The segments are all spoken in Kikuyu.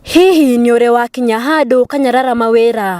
Hihi nĩ ũrĩ wakinya handũ ũkanyarara mawĩra,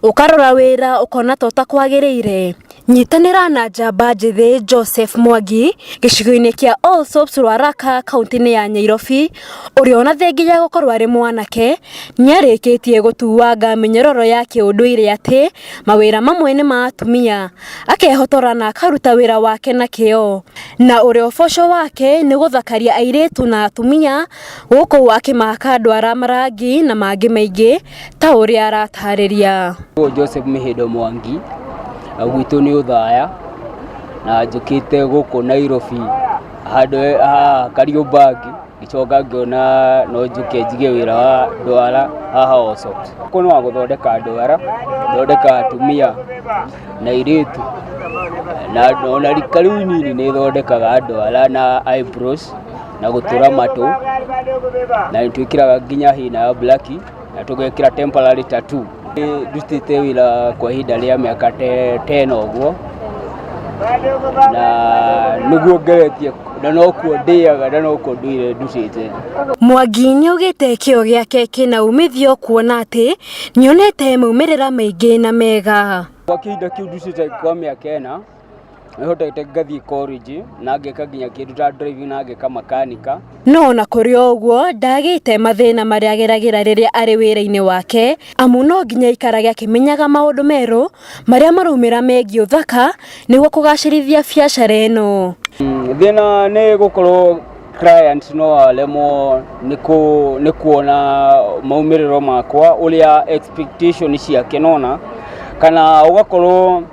ũkarora wĩra ũkona ta ũtakwagĩrĩire? Nyitanĩra na njamba njĩthĩ Joseph Mwangi gĩcigo-inĩ kĩa All Soaps Rwaraka kaũntĩ-inĩ ya Nyairobi, ũrĩa ona thengia wa gũkorwo arĩ mwanake, nĩ arĩkĩtie gũtuanga mĩnyororo ya kĩũndũire atĩ mawĩra mamwe nĩ ma atumia, akehotora na akaruta wĩra wake na kĩo, na ũrĩa ũboco wake nĩ gũthakaria airĩtu na atumia. Gũkũ akĩmaka ndwara marangi na mangĩ maingĩ ta ũrĩa aratarĩria. Ũyũ Joseph Mĩhĩndo Mwangi, na gwitũ nĩ Ũthaya, na njũkĩte gũkũ Nairobi handũ haha Kariobangi, ngĩcoka ngĩona no njũke njige wĩra wa ndwara haha Allsoft. Gũkũ nĩ wa gũthondeka ndwara, gũthondeka atumia na airĩtu, na ona rika rĩu inini nĩ thondekaga ndwara na eyebrows. na gũtũra matũ na nĩ twĩkĩraga nginya hina ya black na tũgekĩra temporary tattoo Nĩ ndutĩte wĩra kwa ihinda rĩa mĩaka te- tena ũguo na nĩguo ngeretie na nokuo ndĩaga na nokuo ndũire ndutĩte Mwangi nĩ augĩte kĩo gĩake kĩna umithio kuona atĩ nĩonete maumĩrĩra maingĩ na mega. kwa kĩhinda kĩu ndutĩte kwa mĩaka ĩna Nĩhotete ngathiĩ college na ngeka nginya kĩndũ ta driving na ngeka makanika. No ona kũrĩ o ũguo ndagĩte mathĩna marĩa ageragĩra rĩrĩa arĩ wĩra-inĩ wake amu no nginya aikarage akĩmenyaga maũndũ merũ marĩa maraumĩra megiĩ ũthaka nĩguo kũgacĩrithia biacara ĩno. Thĩna nĩ gũkorwo client no aremwo nĩ kuona maumĩrĩro makwa ũrĩa expectation ciake nĩwona kana ũgakorwo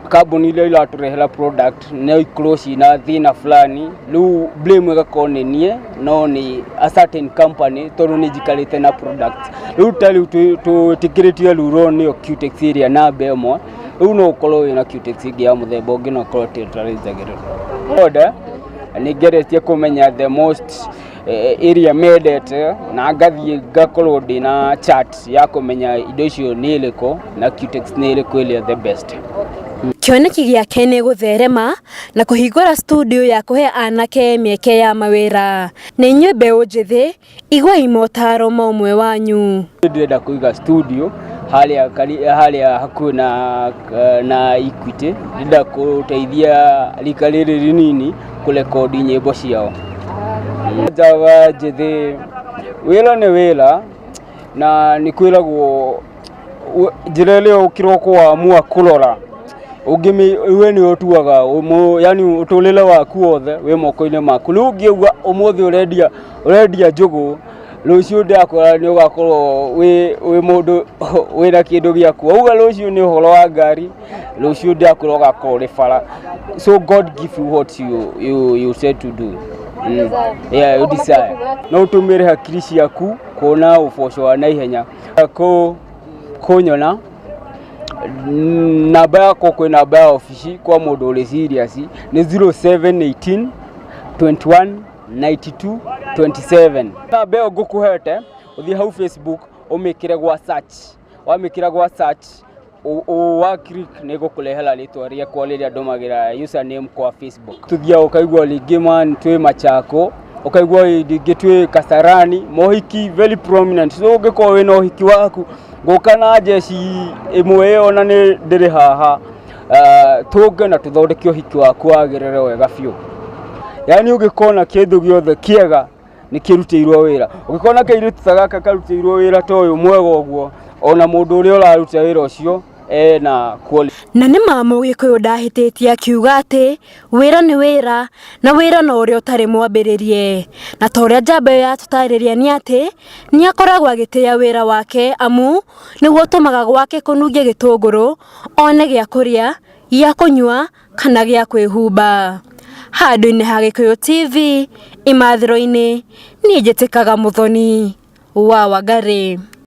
kambuni iria iratũrehera product no ikorwo ciĩna thĩna fulani rĩu blame ĩgakorwo nĩ niĩ no nĩ a certain company tondũ nĩ njikarĩte na product rĩu ta rĩu twĩ- twĩtĩkĩrĩtio ruro nĩyo cutex ĩrĩa namba ĩmwe rĩu no ũkorwo wĩna cutex ĩngĩ ya mũthemba ũngĩ na ũkorwo tĩtarĩnjagĩrĩra order nĩngeretie kũmenya the most ĩrĩa mendete na ngathiĩ ngakorwo ndĩ na chat ya kũmenya indo icio nĩ ĩrĩkũ na cutex nĩ ĩrĩkũ ĩrĩa the best Kĩoneki gĩake nĩ gũtherema na kũhingũra studio ya kũhe anake mĩeke ya mawĩra. Na inyuĩ mbeũ njĩthĩ, iguai motaro ma ũmwe wanyu. ndĩrenda kũiga studio harĩa kari- harĩa hakuhĩ na, na Equity ndĩrenda kũteithia rika rĩrĩ rĩnini kũrekondi nyĩmbo ciao njava njĩthĩ wĩra nĩ wĩra na nĩ kwĩragwo u- njĩra ĩrĩa ũkĩrwo kũwamua kũrora ũngĩmĩ we nĩ ũtuaga ũmũ- yani ũtũrĩre waku wothe wĩ moko-inĩ maku rĩu ũngĩuga ũmũthĩ ũrendia ũrendia njũgũ rũciũ ndakora nĩ ũgakorwo wĩ wĩ mũndũ wĩna kĩndũ gĩaku wauga rũciũ nĩ ũhoro wa ngari rũciũ ndakũra ũgakorwo ũrĩ bara so god give you what you, you, you said to do mm. yeah, you desire no ũtũmĩre hakiri ciaku kuona ũboco wa naihenya kũ kũnyona Mm, namba yakwa kwĩ namba ya obici kwa mũndũ ũrĩ serious nĩ 0718 21 92 27 namba ĩyo ngũkũhete ũthiĩ hau facebook ũmĩkĩre gwa search wamĩkĩra gwa search ũ- ũ- wa click nĩ gũkũrehera rĩtwa rĩakwa rĩrĩa ndũmagĩra username kwa facebook tũthiaga ũkaigua rĩngĩ man twĩ machako ũkaigua rĩngĩ twĩ kasarani mohiki very prominent so ũngĩkorwo wĩna ũhiki waku ngũka na njeci ĩmwe ĩyo na nĩ ndĩrĩ haha Ah, tũnge na tũthondeke ũhiki waku wagĩrĩre wega biũ yaani ũngĩkona kĩndũ gĩothe kĩega nä kä rutä irwo wä ra å gä korwo na kä irä ta gaka karutä irwo wä ra ta å yå mwega å guo ona må ndå å rä a å raruta wä ra å cio ena quality. na nĩ ma mũgĩkũyũ ndahĩtĩtie akiuga atĩ wĩra nĩ wĩra na wĩra no ũrĩa ũtarĩ mwambĩrĩrie na ta ũrĩa njamba ĩyo yatũtarĩria nĩ atĩ nĩ akoragwo agĩtĩa wĩra wake amu nĩguo ũtũmaga gwake kũnunge gĩtũngũrũ one gĩa kũrĩa gĩa kũnyua kana gĩa kwĩhumba. Handũ-inĩ ha Gĩkũyũ TV, imathĩro-inĩ, niĩ njĩtĩkaga Mũthoni wa Wangari.